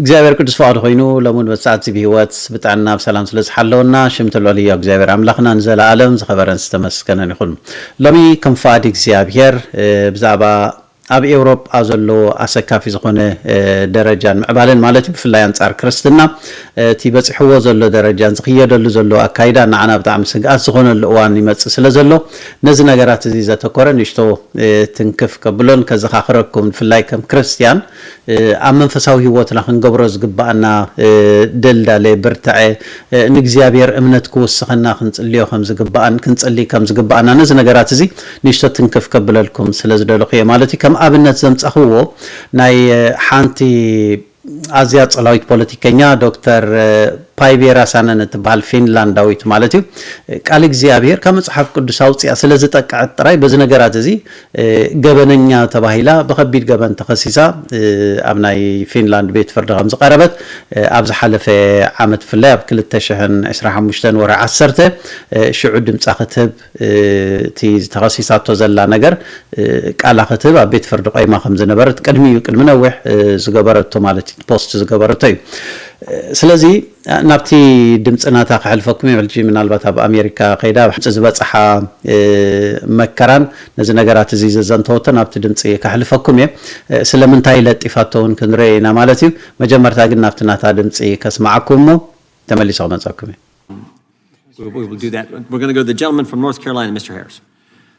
እግዚኣብሔር ቅዱስ ፍቃዱ ኮይኑ ሎሚ ውን በዚሰዓትዚ ብሂወት ብጥዕና ብሰላም ስለ ዝሓለወና ሽም ትልዑል ህያው እግዚኣብሔር ኣምላክና ንዘላኣለም ዝከበረን ዝተመስገነን ይኩን ሎሚ ከም ፍቃድ እግዚኣብሔር ብዛእባ ኣብ ኤውሮጳ ዘሎ ኣሰካፊ ዝኮነ ደረጃን ምዕባለን ማለት እዩ ብፍላይ ኣንጻር ክርስትና እቲ በጺሕዎ ዘሎ ደረጃን ዝክየደሉ ዘሎ ኣካይዳን ንዓና ብጣዕሚ ስግኣት ዝኮነሉ እዋን ይመጽእ ስለ ዘሎ ነዚ ነገራት እዚ ዘተኮረ ንእሽቶ ትንክፍ ከብሎን ከዘካክረኩም ብፍላይ ከም ክርስትያን ኣብ መንፈሳዊ ህይወትና ክንገብሮ ዝግብኣና ደልዳለ ብርትዐ ንእግዚኣብሔር እምነት ክውስኸና ክንጽልዮ ከም ዝግብኣን ክንጽልይ ከም ዝግብኣና ነዚ ነገራት እዚ ንእሽቶ ትንክፍ ከብለልኩም ስለ ዝደለኹ እየ ማለት እዩ ከም ኣብነት ዘምጻኽዎ ናይ ሓንቲ ኣዝያ ጸላዊት ፖለቲከኛ ዶክተር ፓይቬ ራሳነን እትብሃል ፊንላንዳዊት ማለት እዩ ቃል እግዚኣብሔር ካብ መጽሓፍ ቅዱስ ኣውጺኣ ስለ ዝጠቀዐት ጥራይ በዚ ነገራት እዚ ገበነኛ ተባሂላ ብከቢድ ገበን ተኸሲሳ ኣብ ናይ ፊንላንድ ቤት ፍርዲ ከምዝቐረበት ኣብ ዝሓለፈ ዓመት ብፍላይ ኣብ ክልተ ሽሕን ዕስራን ሓሙሽተን ወርሒ ዓሰርተ ሽዑ ድምጻ ክትህብ እቲ ዝተኸሲሳቶ ዘላ ነገር ቃላ ክትህብ ኣብ ቤት ፍርዲ ቆይማ ከምዝነበረት ቅድሚ እዩ ቅድሚ ነዊሕ ዝገበረቶ ማለት እዩ ፖስት ዝገበረቶ እዩ ስለዚ ናብቲ ድምጺ ናታ ከሕልፈኩም እየ ሕጂ ምናልባት ኣብ ኣሜሪካ ከይዳ ኣብ ድምጺ ዝበጽሓ መከራን ነዚ ነገራት እዚ ዘዘንተወቶ ናብቲ ድምጺ ከሕልፈኩም እየ ስለምንታይ ለጢፋቶ ውን ክንርእ ኢና ማለት እዩ መጀመርታ ግን ናብቲ ናታ ድምጺ ከስምዓኩም እሞ ተመሊሰ ክመጸኩም እየ We will do that. We're going to go to the gentleman from North Carolina, Mr. Harris.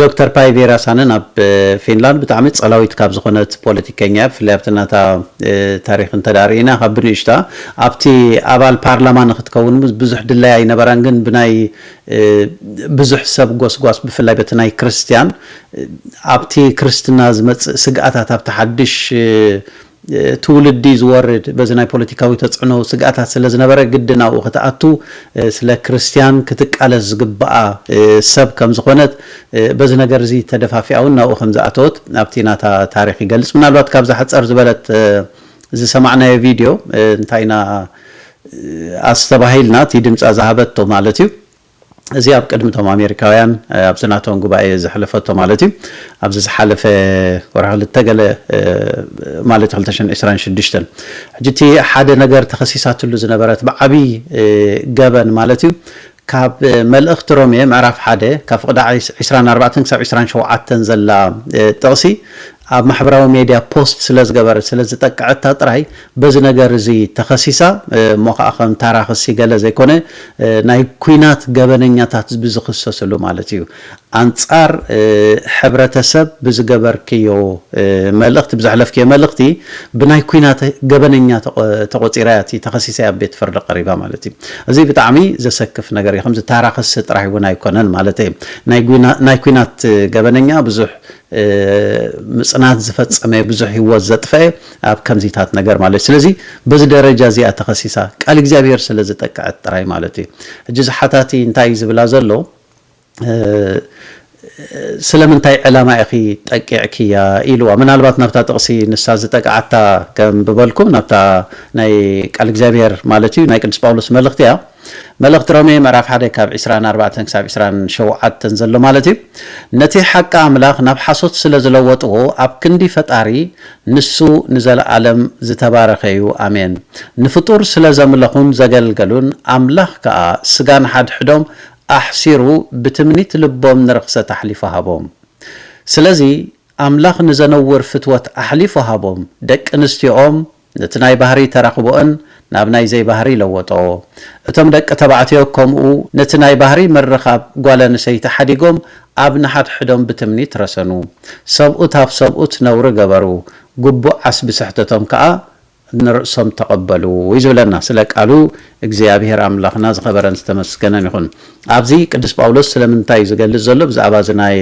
ዶክተር ፓይቪ ራሳነን ኣብ ፊንላንድ ብጣዕሚ ጸላዊት ካብ ዝኾነት ፖለቲከኛ እያ። ብፍላይ ኣብቲ ናታ ታሪኽ እንተድኣ ርኢና ካብ ብንእሽታ ኣብቲ ኣባል ፓርላማ ንኽትከውን ብዙሕ ድላይ ኣይነበራን ግን ብናይ ብዙሕ ሰብ ጎስጓስ ብፍላይ በቲ ናይ ክርስትያን ኣብቲ ክርስትና ዝመጽእ ስግኣታት ኣብቲ ሓድሽ ትውልዲ ዝወርድ በዚ ናይ ፖለቲካዊ ተጽዕኖ ስግኣታት ስለ ዝነበረ ግድን ኣብኡ ክትኣቱ ስለ ክርስትያን ክትቃለስ ዝግብኣ ሰብ ከም ዝኾነት በዚ ነገር እዚ ተደፋፊኣ እውን ናብኡ ከም ዝኣተወት ኣብቲ ናታ ታሪኽ ይገልጽ። ምናልባት ካብዛ ሕጸር ዝበለት ዝሰማዕናዮ ቪድዮ እንታይ ኢና ኣስተባሂልና እቲ ድምጻ ዝሃበቶ ማለት እዩ። እዚ ኣብ ቅድሚ እቶም ኣሜሪካውያን ኣብዚ ናቶም ጉባኤ ዘሕለፈቶ ማለት እዩ ኣብዚ ዝሓለፈ ወርሒ ክልተ ገለ ማለት እዩ ክልተ ሽሕን ዕስራን ሽዱሽተን ሕጂ እቲ ሓደ ነገር ተኸሲሳትሉ ዝነበረት ብዓብዪ ገበን ማለት እዩ ካብ መልእኽቲ ሮሜ ምዕራፍ ሓደ ካብ ፍቕዲ ዕስራን ኣርባዕተን ክሳብ ዕስራን ሸውዓተን ዘላ ጥቕሲ ኣብ ማሕበራዊ ሜድያ ፖስት ስለ ዝገበረት ስለ ዝጠቅዐታ ጥራይ በዚ ነገር እዚ ተኸሲሳ እሞ ከኣ ከም ታራ ክሲ ገለ ዘይኮነ ናይ ኩናት ገበነኛታት ብዝኽሰስሉ ማለት እዩ ኣንጻር ሕብረተሰብ ብዝገበርክዮ መልእኽቲ ብዘሕለፍክዮ መልእኽቲ ብናይ ኩናት ገበነኛ ተቖጺራ እያ እቲ ተኸሲሳ እያ ኣብ ቤት ፍርዲ ቀሪባ ማለት እዩ እዚ ብጣዕሚ ዘሰክፍ ነገር እዩ ከምዚ ታራ ክሲ ጥራይ እውን ኣይኮነን ማለተይ ናይ ኩናት ገበነኛ ብዙሕ ምጽናት ዝፈጸመ ብዙሕ ህይወት ዘጥፈኤ ኣብ ከምዚታት ነገር ማለት ስለዚ በዚ ደረጃ እዚኣ ተኸሲሳ ቃል እግዚኣብሔር ስለ ዝጠቀዐት ጥራይ ማለት እዩ ሕጂ ዝሓታቲ እንታይ ዝብላ ዘሎ ስለምንታይ ዕላማ ኢኺ ጠቂዕክያ ኢልዋ ምናልባት ናብታ ጥቕሲ ንሳ ዝጠቅዓታ ከምብበልኩም ናብታ ናይ ቃል እግዚኣብሔር ማለት እዩ ናይ ቅዱስ ጳውሎስ መልእኽቲ እያ መልእኽቲ ሮሜ ምዕራፍ ሓደ ካብ ዕስራን ኣርባዕተን ክሳብ ዕስራን ሸውዓተን ዘሎ ማለት እዩ ነቲ ሓቂ ኣምላኽ ናብ ሓሶት ስለ ዝለወጥዎ ኣብ ክንዲ ፈጣሪ ንሱ ንዘለኣለም ዝተባረኸ እዩ ኣሜን ንፍጡር ስለ ዘምለኹን ዘገልገሉን ኣምላኽ ከኣ ስጋ ንሓድሕዶም ኣሕሲሩ ብትምኒት ልቦም ንርኽሰት ኣሕሊፉ ሃቦም ስለዚ ኣምላኽ ንዘነውር ፍትወት ኣሕሊፉ ሃቦም ደቂ ኣንስትዮኦም ነቲ ናይ ባህርይ ተራኽቦእን ናብ ናይ ዘይባህርይ ለወጦ። እቶም ደቂ ተባዕትዮ ከምኡ ነቲ ናይ ባህርይ ምርኻብ ጓለንሰይቲ ሓዲጎም ኣብ ንሓድሕዶም ብትምኒት ረሰኑ። ሰብኡት ኣብ ሰብኡት ነውሪ ገበሩ። ግቡእ ዓስቢ ስሕተቶም ከኣ ንርእሶም ተቐበሉ እዩ ዝብለና ስለ ቃሉ እግዚኣብሔር ኣምላኽና ዝኸበረን ዝተመስገነን ይኹን። ኣብዚ ቅዱስ ጳውሎስ ስለምንታይ እዩ ዝገልጽ ዘሎ ብዛዕባ እዚ ናይ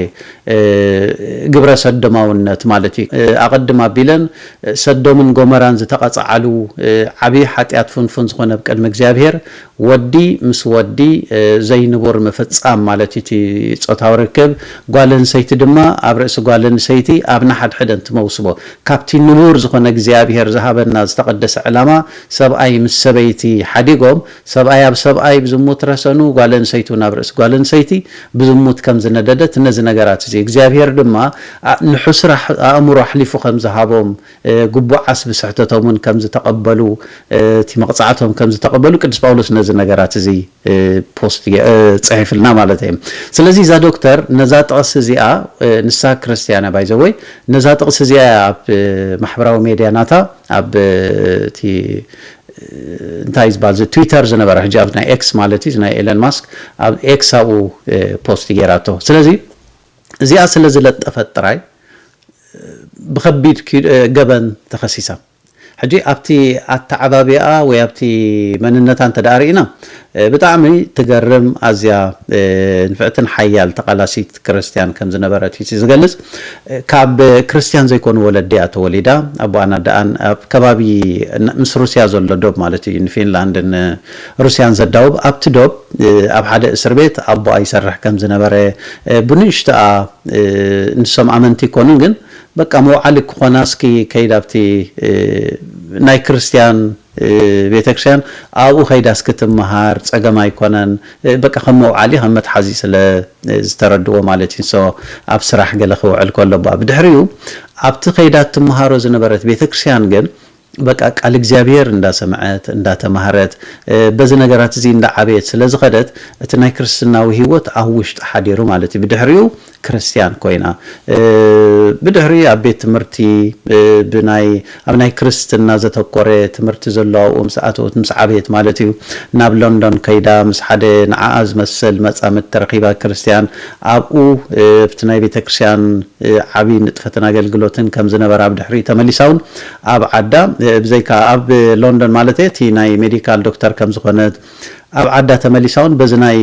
ግብረ ሰዶማውነት ማለት እዩ። ኣቐድም ኣቢለን ሰዶምን ጎመራን ዝተቐጽዓሉ ዓቢ ሓጢኣት ፍንፉን ዝኾነ ብ ቅድሚ እግዚኣብሔር ወዲ ምስ ወዲ ዘይንቡር ምፍጻም ማለት እዩ እቲ ጾታዊ ርክብ ጓል ኣንሰይቲ ድማ ኣብ ርእሲ ጓል ኣንሰይቲ ኣብ ንሓድሕደን ትመውስቦ ካብቲ ንቡር ዝኾነ እግዚኣብሔር ዝሃበና ዝተቐደሰ ዕላማ ሰብኣይ ምስ ሰበይቲ ሓዲጎም ሰብኣይ ኣብ ሰብኣይ ብዝሙት ረሰኑ ጓል ኣንሰይቱ ናብ ርእሲ ጓል ኣንሰይቲ ብዝሙት ከም ዝነደደት ነዚ ነገራት እዚ እግዚኣብሄር ድማ ንሕሱር ኣእምሮ ኣሕሊፉ ከም ዝሃቦም ግቡዓስ ብስሕተቶም እውን ከም ዝተቐበሉ እቲ መቕጻዕቶም ከም ዝተቐበሉ ቅዱስ ጳውሎስ ነዚ ነገራት እዚ ፖስት ፅሒፍልና ማለት እየ ስለዚ እዛ ዶክተር ነዛ ጥቕሲ እዚኣ ንሳ ክርስትያን እያ ባይዘወይ ነዛ ጥቕሲ እዚኣ እያ ኣብ ማሕበራዊ ሜድያ ናታ ኣብ እቲ እንታይ ዝበሃል እዚ ትዊተር ዝነበረ ሕጂ ኣብ ናይ ኤክስ ማለት እዩ ናይ ኤለን ማስክ ኣብ ኤክስ ኣብኡ ፖስት ገይራቶ ስለዚ እዚኣ ስለ ዝለጠፈት ጥራይ ብከቢድ ገበን ተኸሲሳ ሕጂ ኣብቲ ኣተዓባብያኣ ወይ ኣብቲ መንነታ እንተ ርኢና ብጣዕሚ ትገርም ኣዝያ ንፍዕትን ሓያል ተቃላሲት ክርስትያን ከም ዝነበረት እዩ ዝገልጽ ካብ ክርስትያን ዘይኮኑ ወለዲ እያ ተወሊዳ ኣቦኣን ኣደኣን ኣብ ከባቢ ምስ ሩስያ ዘሎ ዶብ ማለት እዩ ንፊንላንድን ሩስያን ዘዳውብ ኣብቲ ዶብ ኣብ ሓደ እስር ቤት ኣቦኣ ይሰርሕ ከም ዝነበረ ብንእሽቶኣ ንሶም ኣመንቲ ይኮኑን ግን በቃ መውዓሊ ክኾና እስኪ ከይድ ኣብቲ ናይ ክርስትያን ቤተክርስያን ኣብኡ ከይዳ እስኪ ትመሃር ጸገም ኣይኮነን በቃ ከም መውዓሊ ከም መትሓዚ ስለ ዝተረድዎ ማለት እዩ so ኣብ ስራሕ ገለ ክውዕል ከሎ ብድሕሪኡ ኣብቲ ከይዳ ትመሃሮ ዝነበረት ቤተክርስያን ግን በቃ ቃል እግዚኣብሔር እንዳሰምዐት እንዳተማህረት በዚ ነገራት እዚ እንዳዓበየት ስለ ዝኸደት እቲ ናይ ክርስትናዊ ሕይወት ኣብ ውሽጣ ሓዲሩ ማለት እዩ ብድሕሪኡ ክርስትያን ኮይና ብድሕሪ ኣብ ቤት ትምህርቲ ብናይ ኣብ ናይ ክርስትና ዘተኮረ ትምህርቲ ዘሎ ኣብኡ ምስ ኣተወት ምስ ዓበየት ማለት እዩ ናብ ሎንዶን ከይዳ ምስ ሓደ ንዓኣ ዝመስል መጻምድቲ ረኺባ ክርስትያን ኣብኡ ኣብቲ ናይ ቤተክርስያን ዓቢ ንጥፈትን ኣገልግሎትን ከም ዝነበራ ብድሕሪኡ ተመሊሳ ውን ኣብ ዓዳ ብዘይካ ኣብ ሎንዶን ማለት እየ እቲ ናይ ሜዲካል ዶክተር ከም ዝኾነት ኣብ ዓዳ ተመሊሳ ውን በዚ ናይ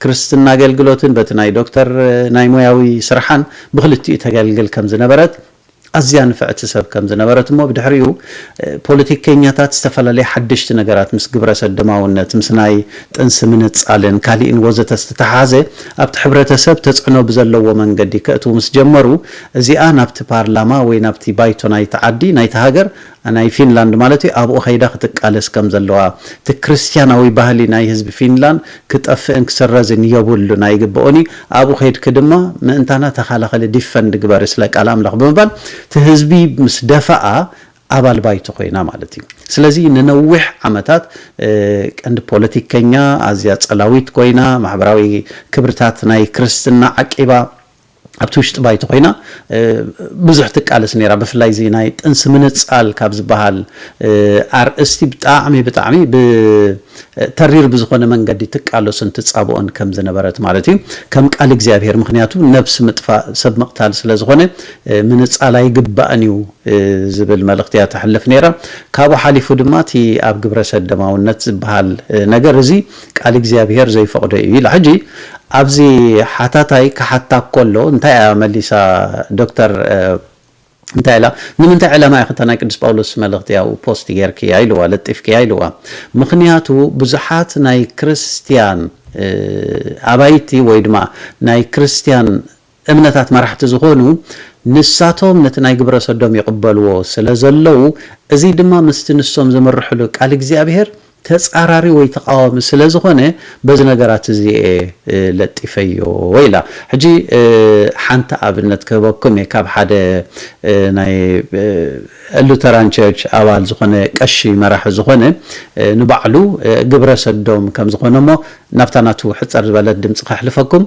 ክርስትና ኣገልግሎትን በቲ ናይ ዶክተር ናይ ሞያዊ ስርሓን ብኽልቲኡ ተገልግል ከም ዝነበረት ኣዝያ ንፍዕቲ ሰብ ከም ዝነበረት እሞ ብድሕሪኡ ፖለቲከኛታት ዝተፈላለዩ ሓደሽቲ ነገራት ምስ ግብረ ሰዶማውነት ምስ ናይ ጥንሲ ምንጻልን ካሊእን ወዘተ ዝተተሓሓዘ ኣብቲ ሕብረተሰብ ተጽዕኖ ብዘለዎ መንገዲ ከእትዉ ምስ ጀመሩ እዚኣ ናብቲ ፓርላማ ወይ ናብቲ ባይቶ ናይቲ ዓዲ፣ ናይቲ ሃገር፣ ናይ ፊንላንድ ማለት እዩ፣ ኣብኡ ከይዳ ክትቃለስ ከም ዘለዋ፣ እቲ ክርስትያናዊ ባህሊ ናይ ህዝቢ ፊንላንድ ክጠፍእን ክስረዝን የብሉን ኣይግበኦን እዩ፣ ኣብኡ ከይድኪ ድማ ምእንታና ተኻላኸሊ፣ ዲፈንድ፣ ግበሪ ስለ ቃል ኣምላኽ ብምባል እቲ ህዝቢ ምስ ደፈኣ ኣባል ባይቶ ኮይና ማለት እዩ። ስለዚ ንነዊሕ ዓመታት ቀንዲ ፖለቲከኛ፣ ኣዝያ ጸላዊት ኮይና፣ ማሕበራዊ ክብርታት ናይ ክርስትና ዓቂባ፣ ኣብቲ ውሽጢ ባይቶ ኮይና ብዙሕ ትቃለስ ነይራ ብፍላይ እዚ ናይ ጥንሲ ምንጻል ካብ ዝበሃል ኣርእስቲ ብጣዕሚ ብጣዕሚ ብ ተሪር ብዝኾነ መንገዲ ትቃለሶን ትጻብኦን ከም ዝነበረት ማለት እዩ ከም ቃል እግዚኣብሄር ምኽንያቱ ነብሲ ምጥፋእ ሰብ ምቕታል ስለ ዝኾነ ምንጻል ኣይግባእን እዩ ዝብል መልእኽቲ እያ ተሕልፍ ነይራ ካብኡ ሓሊፉ ድማ እቲ ኣብ ግብረሰደማውነት ዝበሃል ነገር እዚ ቃል እግዚኣብሄር ዘይፈቕዶ እዩ ኢላ። ሕጂ ኣብዚ ሓታታይ ክሓታ ከሎ እንታይ እያ መሊሳ ዶክተር እንታይ ኢላ ንምንታይ ዕላማ ኢኺ እታ ናይ ቅዱስ ጳውሎስ መልእኽቲ ኣብኡ ፖስት ጌርክያ ኢልዋ ለጢፍክያ ኢልዋ ምኽንያቱ ብዙሓት ናይ ክርስትያን ኣባይቲ ወይ ድማ ናይ ክርስትያን እምነታት መራሕቲ ዝኾኑ ንሳቶም ነቲ ናይ ግብረሰዶም ይቕበልዎ ስለ ዘለዉ እዚ ድማ ምስቲ ንሶም ዝምርሕሉ ቃል እግዚኣብሄር ተጻራሪ ወይ ተቓዋሚ ስለ ዝኾነ በዚ ነገራት እዚ እየ ለጢፈዮ ኢላ። ሕጂ ሓንቲ ኣብነት ክህበኩም እየ ካብ ሓደ ናይ ሉተራን ቸርች ኣባል ዝኾነ ቀሺ መራሒ ዝኾነ ንባዕሉ ግብረሰዶም ከም ዝኾነ እሞ ናብታ ናቱ ሕጽር ዝበለት ድምጺ ከሕልፈኩም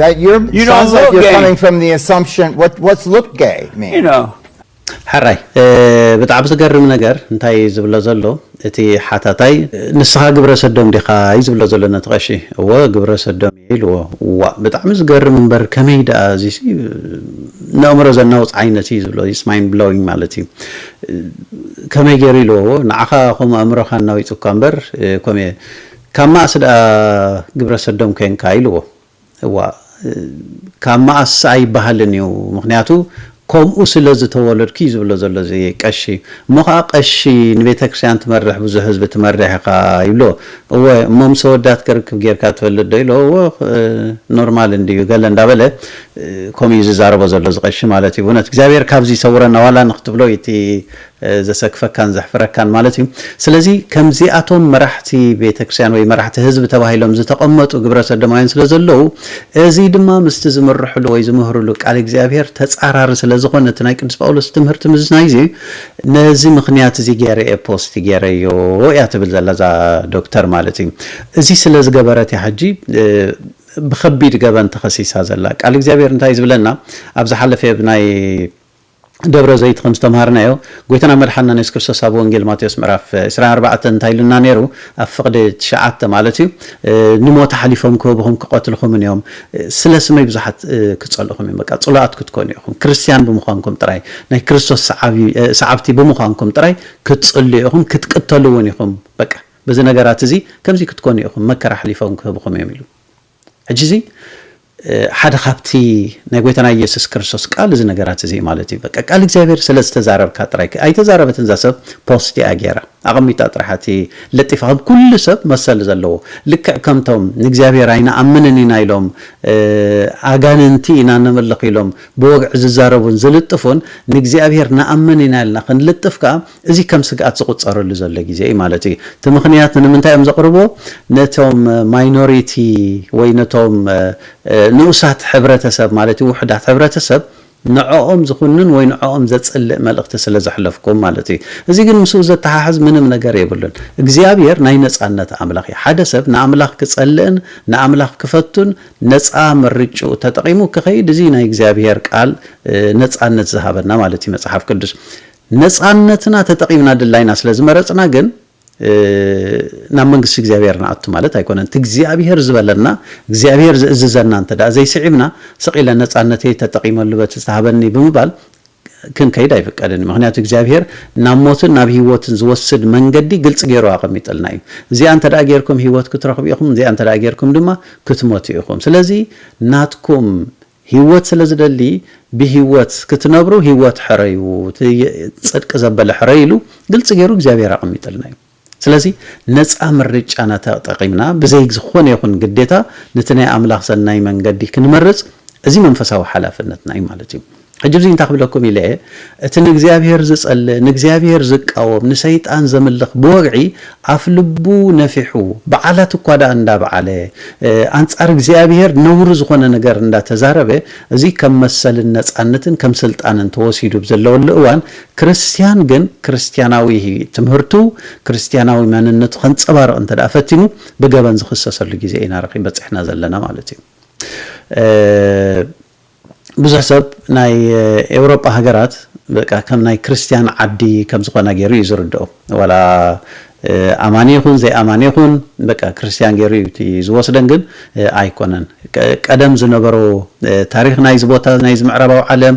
That you're you sounds like you're gay. coming from the assumption what what's look gay mean? You know. ሓራይ ብጣዕሚ ዝገርም ነገር እንታይ እዩ ዝብሎ ዘሎ እቲ ሓታታይ ንስኻ ግብረ ሰዶም ዲኻ እዩ ዝብሎ ዘሎ ነቲ ቀሺ እወ ግብረ ሰዶም እየ ኢልዎ ዋ ብጣዕሚ ዝገርም እምበር ከመይ ደኣ እዚ ንእምሮ ዘናውፅ ዓይነት እዩ ዝብሎ ስ ማይንድ ብሎዊንግ ማለት እዩ ከመይ ገይሩ ኢልዎ ንዓኻ ከምኡ ኣእምሮኻ እናዊፁካ እምበር ኮሜ ካብ መኣስ ድኣ ግብረ ሰዶም ኮንካ ኢልዎ እዋእ ካብ መኣስ ኣይባሃልን እዩ ምክንያቱ ኮምኡ ስለ ዝተወለድኩ እዩ ዝብሎ ዘሎ እዚ ቀሺ እሞ ከኣ ቀሺ ንቤተክርስትያን ትመርሕ ብዙሕ ህዝቢ ትመርሕ ኢካ ይብሎ እወ እሞ ምስ ኣወዳት ክርክብ ጌርካ ትፈልጥ ዶ ኢልዎ እወ ኖርማል እንድዩ ገለ እንዳበለ ኮምኡ እዩ ዝዛረቦ ዘሎ እዚ ቀሺ ማለት እዩ ብእውነት እግዚኣብሔር ካብዚ ይሰውረና ዋላ ንክትብሎ እዩ እቲ ዘሰክፈካን ዘሕፍረካን ማለት እዩ ስለዚ ከምዚኣቶም መራሕቲ ቤተክርስቲያን ወይ መራሕቲ ህዝቢ ተባሂሎም ዝተቐመጡ ግብረ ሰዶማውያን ስለ ዘለዉ እዚ ድማ ምስቲ ዝምርሕሉ ወይ ዝምህርሉ ቃል እግዚኣብሔር ተጻራሪ ስለ ዝኾነ እቲ ናይ ቅዱስ ጳውሎስ ትምህርቲ ምዝናይ እዚ ነዚ ምኽንያት እዚ ገይረ እየ ፖስት ገይረዮ እያ ትብል ዘላ እዛ ዶክተር ማለት እዩ እዚ ስለ ዝገበረት እያ ሕጂ ብከቢድ ገበን ተኸሲሳ ዘላ ቃል እግዚኣብሔር እንታይ ዝብለና ኣብ ዝሓለፈ ናይ ደብረ ዘይት ከም ዝተምሃርናዮ ጎይታና መድሓንናን የሱስ ክርስቶስ ኣብ ወንጌል ማቴዎስ ምዕራፍ ዕስራን ኣርባዕተን እንታይ ኢሉና ኔሩ ኣብ ፍቅዲ ትሽዓተ ማለት እዩ ንሞት ኣሕሊፎም ክህቡኹም ክቀትልኹምን እዮም ስለ ስመይ ብዙሓት ክጸልኡኹም እዮም በቃ ጽሉኣት ክትኮኑ ኢኹም ክርስትያን ብምዃንኩም ጥራይ ናይ ክርስቶስ ሰዓቢ ሰዓብቲ ብምዃንኩም ጥራይ ክትጽልዩ ኢኹም ክትቅተሉ እውን ኢኹም በቃ በዚ ነገራት እዚ ከምዚ ክትኮኑ ኢኹም መከራ ኣሕሊፎም ክህቡኹም እዮም ኢሉ ሕጂ እዚ ሓደ ካብቲ ናይ ጎይታና ኢየሱስ ክርስቶስ ቃል እዚ ነገራት እዚ እዩ ማለት እዩ በቃ ቃል እግዚኣብሔር ስለ ዝተዛረብካ ጥራይ ኣይተዛረበትን እዛ ሰብ ፖስት እያ ጌራ ኣቐሚጣ ጥራሕ እቲ ለጢፋ ከም ኩሉ ሰብ መሰል ዘለዎ ልክዕ ከምቶም ንእግዚኣብሔር ኣይንኣምንን ኢና ኢሎም ኣጋንንቲ ኢና ነምልኽ ኢሎም ብወግዒ ዝዛረቡን ዝልጥፉን ንእግዚኣብሔር ንኣምን ኢና ኢልና ክንልጥፍ ከኣ እዚ ከም ስግኣት ዝቑጸረሉ ዘሎ ግዜ እዩ ማለት እዩ። እቲ ምኽንያት ንምንታይ እዮም ዘቕርብዎ? ነቶም ማይኖሪቲ ወይ ነቶም ንኡሳት ሕብረተሰብ ማለት እዩ፣ ውሑዳት ሕብረተሰብ፣ ንዕኦም ዝኹንን ወይ ንዕኦም ዘጽልእ መልእኽቲ ስለ ዘሕለፍኩም ማለት እዩ። እዚ ግን ምስኡ ዘተሓሕዝ ምንም ነገር የብሉን። እግዚኣብሄር ናይ ነጻነት ኣምላኽ እዩ። ሓደ ሰብ ንኣምላኽ ክጸልእን ንኣምላኽ ክፈቱን ነጻ ምርጭኡ ተጠቒሙ ክኸይድ እዚ እዩ ናይ እግዚኣብሄር ቃል ነጻነት ዝሃበና ማለት እዩ መጽሓፍ ቅዱስ። ነጻነትና ተጠቂምና ድላይና ስለ ዝመረጽና ግን ናብ መንግስቲ እግዚኣብሔር ንኣቱ ማለት ኣይኮነን። እቲ እግዚኣብሔር ዝበለና እግዚኣብሔር ዝእዝዘና እንተ ዘይስዒብና ስቕ ኢለ ነጻነተይ ተጠቂመሉ በቲ ዝተሃበኒ ብምባል ክንከይድ ኣይፍቀድን እዩ። ምክንያቱ እግዚኣብሔር ናብ ሞትን ናብ ህይወትን ዝወስድ መንገዲ ግልፂ ገይሩ ኣቐሚጥልና እዩ። እዚኣ እንተ ገይርኩም ህይወት ክትረኽቡ ኢኹም፣ እዚኣ እንተ ገይርኩም ድማ ክትሞቱ ኢኹም። ስለዚ ናትኩም ሂወት ስለ ዝደሊ ብሂወት ክትነብሩ ሂወት ሕረዩ እቲ ጽድቂ ዘበለ ሕረዩ ኢሉ ግልጺ ጌሩ እግዚኣብሄር ኣቐሚጥልና እዩ ስለዚ ነጻ ምርጫና ተጠቒምና ብዘይ ዝኾነ ይኹን ግዴታ ነቲ ናይ ኣምላኽ ሰናይ መንገዲ ክንመርጽ እዚ መንፈሳዊ ሓላፍነትና እዩ ማለት እዩ ሕጂ እዚ እንታይ ክብለኩም ኢለ እየ እቲ ንእግዚኣብሄር ዝጸልእ ንእግዚኣብሄር ዝቃወም ንሰይጣን ዘምልኽ ብወግዒ ኣፍ ልቡ ነፊሑ በዓላት እኳ ደኣ እንዳበዓለ ኣንጻር እግዚኣብሄር ነውሪ ዝኾነ ነገር እንዳተዛረበ እዚ ከም መሰልን ነጻነትን ከም ስልጣንን ተወሲዱ ብ ዘለወሉ እዋን ክርስትያን ግን ክርስትያናዊ ትምህርቱ ክርስትያናዊ መንነቱ ከንጸባርቕ እንተደኣ ፈቲኑ ብገበን ዝኽሰሰሉ ግዜ ኢና በጺሕና ዘለና ማለት እዩ። ብዙሕ ሰብ ናይ ኤውሮጳ ሃገራት በቃ ከም ናይ ክርስትያን ዓዲ ከም ዝኾና ጌሩ እዩ ዝርድኦ። ዋላ ኣማኒ ይኹን ዘይኣማኒ ይኹን በቃ ክርስትያን ጌሩ እዩ እቲ ዝወስደን ግን ኣይኮነን። ቀደም ዝነበሮ ታሪኽ ናይዚ ቦታ ናይዚ ምዕራባዊ ዓለም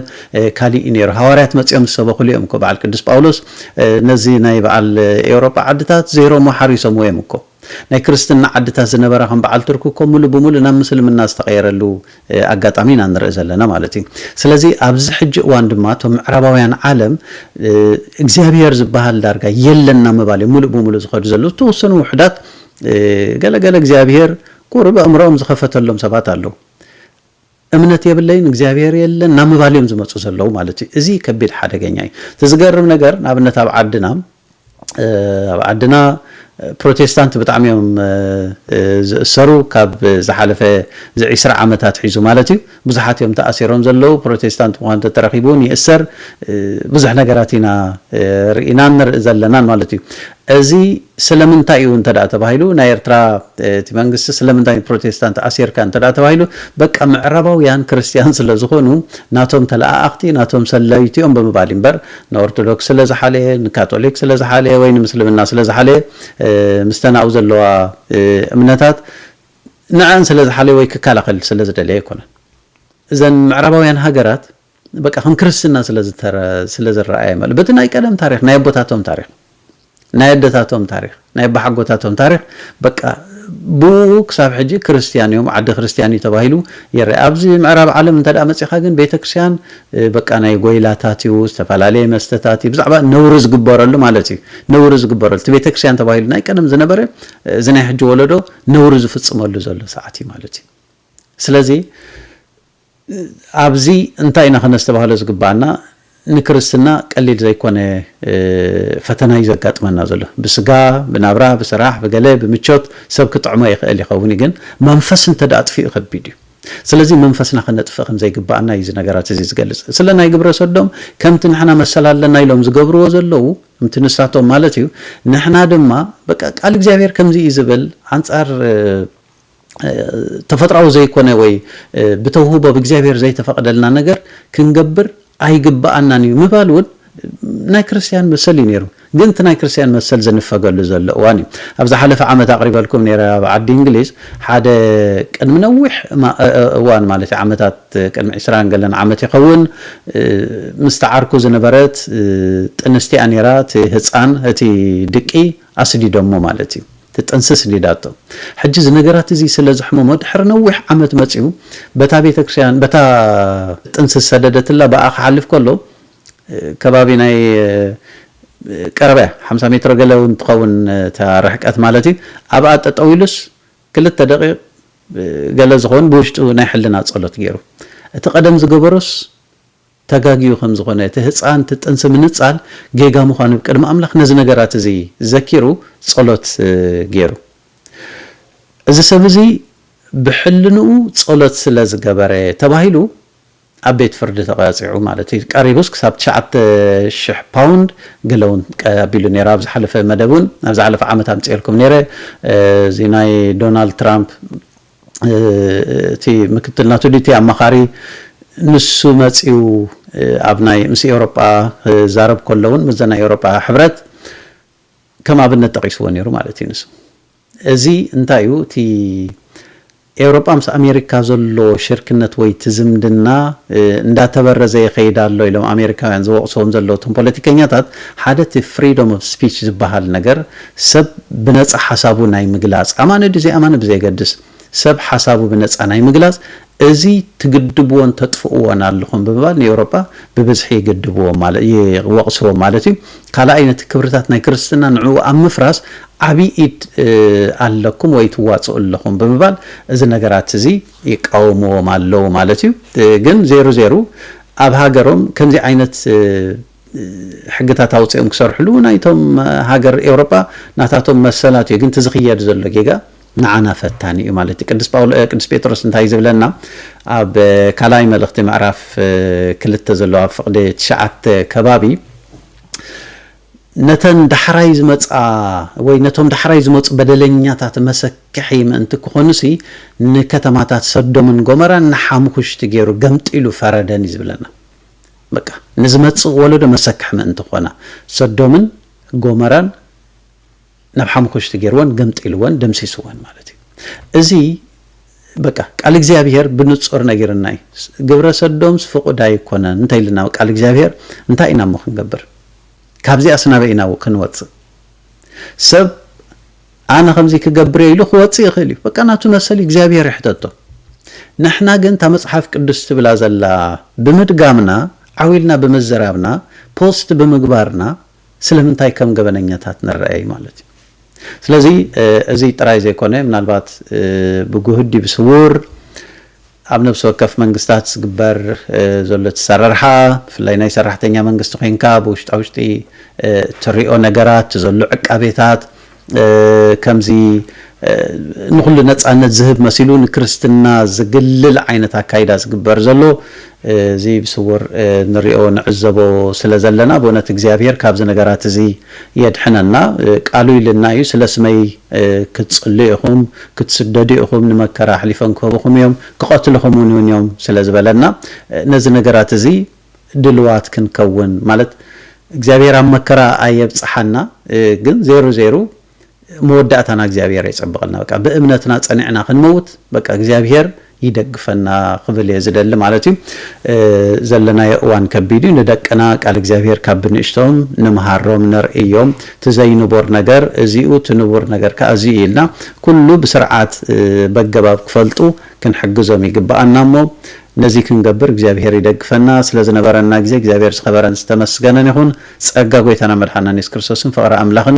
ካሊእ እዩ ኔሩ። ሃዋርያት መጺኦም ዝሰበኹሉ እዮም እኮ በዓል ቅዱስ ጳውሎስ ነዚ ናይ በዓል ኤውሮጳ ዓድታት ዘይሮሞ ሓሪሶምዎ እዮም እኮ። ናይ ክርስትና ዓድታት ዝነበራ ከም በዓል ቱርኪ እኮ ምሉእ ብምሉእ ናብ ምስልምና ዝተቐየረሉ ኣጋጣሚ ኢና ንርኢ ዘለና ማለት እዩ። ስለዚ ኣብዚ ሕጂ እዋን ድማ እቶም ምዕራባውያን ዓለም እግዚኣብሄር ዝበሃል ዳርጋ የለን ናብ ምባል እዮም ምሉእ ብምሉእ ዝኸዱ ዘለዉ። ዝተወሰኑ ውሑዳት ገለ ገለ እግዚኣብሄር ቁሩብ ኣእምሮኦም ዝኸፈተሎም ሰባት ኣለዉ። እምነት የብለይን እግዚኣብሔር የለን ናብ ምባል እዮም ዝመፁ ዘለዉ ማለት እዩ እዚ ከቢድ ሓደገኛ እዩ እቲ ዝገርም ነገር ንኣብነት ኣብ ዓድና ኣብ ዓድና ፕሮቴስታንት ብጣዕሚ እዮም ዝእሰሩ ካብ ዝሓለፈ እዚ ዒስራ ዓመታት ሒዙ ማለት እዩ ብዙሓት እዮም ተኣሲሮም ዘለዉ ፕሮቴስታንት ምዃን ተተረኺቡ እውን ይእሰር ብዙሕ ነገራት ኢና ርኢናን ንርኢ ዘለናን ማለት እዩ እዚ ስለምንታይ እዩ እንተ ተባሂሉ ናይ ኤርትራ እቲ መንግስቲ ስለምንታይ ንፕሮቴስታንት ኣሲርካ እንተ ተባሂሉ በቃ ምዕራባውያን ክርስትያን ስለ ዝኾኑ ናቶም ተለኣኣኽቲ ናቶም ሰለይቲ እዮም ብምባል እዩ እምበር ንኦርቶዶክስ ስለ ዝሓለየ ንካቶሊክ ስለ ዝሓለየ ወይ ንምስልምና ስለ ዝሓለየ ምስተን ኣብኡ ዘለዋ እምነታት ንዐኣን ስለ ዝሓለየ ወይ ክከላኸል ስለ ዝደለየ ኣይኮነን እዘን ምዕራባውያን ሃገራት በቃ ከም ክርስትና ስለ ዝረኣየ ማለት በቲ ናይ ቀደም ታሪኽ ናይ ኣቦታቶም ታሪኽ ናይ ኣደታቶም ታሪኽ ናይ ኣባሓጎታቶም ታሪኽ በቃ ብኡ ክሳብ ሕጂ ክርስትያን እዮም ዓዲ ክርስትያን እዩ ተባሂሉ ይረአ ኣብዚ ምዕራብ ዓለም እንተ መፂኻ ግን ቤተ ክርስትያን በቃ ናይ ጎይላታት እዩ ዝተፈላለየ መስተታት እዩ ብዛዕባ ነውሪ ዝግበረሉ ማለት እዩ ነውሪ ዝግበረሉ እቲ ቤተ ክርስትያን ተባሂሉ ናይ ቀደም ዝነበረ እዚ ናይ ሕጂ ወለዶ ነውሪ ዝፍፅመሉ ዘሎ ሰዓት እዩ ማለት እዩ ስለዚ ኣብዚ እንታይ ኢና ከነስተባህሎ ዝግበኣና ንክርስትና ቀሊል ዘይኮነ ፈተና እዩ ዘጋጥመና ዘሎ ብስጋ ብናብራ ብስራሕ ብገለ ብምቾት ሰብ ክጥዕሞ ይክእል ይከውን እዩ ግን መንፈስ እንተ ኣጥፊኡ ከቢድ እዩ ስለዚ መንፈስና ከነጥፍእ ከም ዘይግበኣና እዩ እዚ ነገራት እዚ ዝገልጽ ስለ ናይ ግብረ ሰዶም ከምቲ ንሕና መሰል ኣለና ኢሎም ዝገብርዎ ዘለዉ ከምቲ ንሳቶም ማለት እዩ ንሕና ድማ በቃ ቃል እግዚኣብሔር ከምዚ እዩ ዝብል ኣንጻር ተፈጥሮኣዊ ዘይኮነ ወይ ብተውህቦ ብእግዚኣብሔር ዘይተፈቐደልና ነገር ክንገብር ኣይግብኣናን እዩ ምባል እውን ናይ ክርስትያን መሰል እዩ ነይሩ ግን እቲ ናይ ክርስትያን መሰል ዝንፈገሉ ዘሎ እዋን እዩ ኣብ ዝሓለፈ ዓመት ኣቕሪበልኩም ነረ ኣብ ዓዲ እንግሊዝ ሓደ ቅድሚ ነዊሕ እዋን ማለት እዩ ዓመታት ቅድሚ ዕስራ ገለን ዓመት ይኸውን ምስ ተዓርኩ ዝነበረት ጥንስቲያ ነራ እቲ ህፃን እቲ ድቂ ኣስዲዶሞ ማለት እዩ ትጥንሲ ስዲዳቶ ሕጂ እዚ ነገራት እዚ ስለ ዘሕመሞ ድሕሪ ነዊሕ ዓመት መጺኡ በታ ቤተክርስቲያን በታ ጥንሲ ዝሰደደትላ ብኣ ክሓልፍ ከሎ ከባቢ ናይ ቀረባ እያ ሓምሳ ሜትሮ ገለ እውን ትኸውን እታ ርሕቀት ማለት እዩ ኣብኣ ጠጠው ኢሉስ ክልተ ደቂቕ ገለ ዝኸውን ብውሽጡ ናይ ሕልና ጸሎት ገይሩ እቲ ቀደም ዝገበሮስ ተጋግዩ ከም ዝኾነ፣ እቲ ህጻን እቲ ጥንሲ ምንጻል ጌጋ ምዃኑ ቅድሚ ኣምላኽ ነዚ ነገራት እዚ ዘኪሩ ጸሎት ጌሩ። እዚ ሰብ እዚ ብሕልንኡ ጸሎት ስለ ዝገበረ ተባሂሉ ኣብ ቤት ፍርዲ ተቐጺዑ ማለት እዩ። ቀሪቡስ ክሳብ ትሽዓተ ሽሕ ፓውንድ ገለ እውን ኣቢሉ ነይሩ። ኣብ ዝሓለፈ መደብ እውን ኣብ ዝሓለፈ ዓመት ኣምጺኤልኩም ነይረ እዚ ናይ ዶናልድ ትራምፕ እቲ ምክትል ናቱ ዲቲ ኣማኻሪ ንሱ መጺኡ ኣብ ናይ ምስ ኤውሮጳ ክዛረብ ከሎ እውን ምስዘ ናይ ኤውሮጳ ሕብረት ከም ኣብነት ጠቒስዎ ነይሩ ማለት እዩ ንሱ እዚ እንታይ እዩ እቲ ኤውሮጳ ምስ ኣሜሪካ ዘሎ ሽርክነት ወይ እቲ ዝምድና እንዳተበረዘ ይኸይድ ኣሎ ኢሎም ኣሜሪካውያን ዝወቕስዎም ዘለዉ እቶም ፖለቲከኛታት ሓደ እቲ ፍሪዶም ኦፍ ስፒች ዝበሃል ነገር ሰብ ብነጻ ሓሳቡ ናይ ምግላጽ፣ ኣማኒ ድዩ ዘይኣማኒ ብዘየገድስ፣ ሰብ ሓሳቡ ብነጻ ናይ ምግላጽ፣ እዚ ትግድብዎን ተጥፍእዎን ኣለኹም ብምባል ንኤውሮጳ ብብዝሒ ይግድብዎ ማለ ይወቕስዎ ማለት እዩ። ካልኣይ ነቲ ክብርታት ናይ ክርስትና ንዕኡ ኣብ ምፍራስ ዓቢ ኢድ ኣለኩም ወይ ትዋጽኡ ኣለኹም ብምባል እዚ ነገራት እዚ ይቃወምዎም ኣለዉ ማለት እዩ። ግን ዜሩ ዜሩ ኣብ ሃገሮም ከምዚ ዓይነት ሕግታት ኣውጺኦም ክሰርሕሉ እውን ኣይቶም ሃገር ኤውሮጳ ናታቶም መሰላት እዩ ግን እቲ ዝኽየድ ዘሎ ጌጋ ንዓና ፈታኒ እዩ ማለት እዩ ቅዱስ ጳውሎ ቅዱስ ጴጥሮስ እንታይ ዝብለና ኣብ ካልኣይ መልእኽቲ ምዕራፍ ክልተ ዘሎ ኣብ ፍቕዲ ትሽዓተ ከባቢ ነተን ዳሕራይ ዝመፃ ወይ ነቶም ዳሕራይ ዝመፁ በደለኛታት መሰክሒ ምእንቲ ክኾኑሲ ንከተማታት ሰዶምን ጎመራን ንሓምኹሽቲ ገይሩ ገምጢሉ ፈረደን እዩ ዝብለና በቃ ንዝመጽእ ወለዶ መሰክሕ ምእንቲ ክኾና፣ ሰዶምን ጎመራን ናብ ሓሙኹሽቲ ገይርወን፣ ገምጢልወን፣ ደምሲስወን ማለት እዩ። እዚ በቃ ቃል እግዚኣብሄር ብንጹር ነጊርና እዩ። ግብረ ሰዶምስ ፍቑድ ኣይኮነን እንተ ኢልና ቃል እግዚኣብሄር እንታይ ኢና እሞ ክንገብር? ካብዚኣስ ናበይ ኢና ክንወጽእ? ሰብ ኣነ ከምዚ ክገብር እየ ኢሉ ክወጽእ ይኽእል እዩ በቃ ናቱ መሰል እዩ እግዚኣብሄር ይሕተቶ ንሕና ግን እታ መጽሓፍ ቅዱስ ትብላ ዘላ ብምድጋምና ዓው ኢልና ብምዝራብና ፖስት ብምግባርና ስለምንታይ ከም ገበነኛታት ንረኣይ ማለት እዩ ስለዚ እዚ ጥራይ ዘይኮነ ምናልባት ብጉህዲ ብስውር ኣብ ነብሲ ወከፍ መንግስታት ዝግበር ዘሎ እቲ ኣሰራርሓ ብፍላይ ናይ ሰራሕተኛ መንግስቲ ኮይንካ ብውሽጣ ውሽጢ እትሪኦ ነገራት እቲ ዘሎ ዕቃቤታት ከምዚ ንኹሉ ነፃነት ዝህብ መሲሉ ንክርስትና ዝግልል ዓይነት ኣካይዳ ዝግበር ዘሎ እዚ ብስውር ንሪኦ ንዕዘቦ ስለ ዘለና ብእውነት እግዚኣብሄር ካብዚ ነገራት እዚ የድሕነና ቃሉ ኢልና እዩ ስለ ስመይ ክትጽልዩ ኢኹም ክትስደዱ ኢኹም ንመከራ ኣሕሊፎም ክህቡኹም እዮም ክቐትሉኹም ውን ውን እዮም ስለ ዝበለና ነዚ ነገራት እዚ ድልዋት ክንከውን ማለት እግዚኣብሄር ኣብ መከራ ኣየብጽሓና ግን ዜሩ ዜሩ መወዳእታና እግዚኣብሔር የፀብቐልና በቃ ብእምነትና ፀኒዕና ክንመውት በቃ እግዚኣብሔር ይደግፈና ክብል እየ ዝደሊ ማለት እዩ ዘለናዮ እዋን ከቢድ እዩ ንደቅና ቃል እግዚኣብሔር ካብ ብንእሽቶም ንምሃሮም ነርእዮም እቲ ዘይንቡር ነገር እዚኡ እቲ ንቡር ነገር ከዓ እዚ እዩ ኢልና ኩሉ ብስርዓት በገባብ ክፈልጡ ክንሕግዞም ይግበኣና እሞ ነዚ ክንገብር እግዚኣብሔር ይደግፈና ስለ ዝነበረና ግዜ እግዚኣብሔር ዝኸበረን ዝተመስገነን ይኹን ፀጋ ጎይታና መድሓናን የሱስ ክርስቶስን ፍቕሪ ኣምላኽን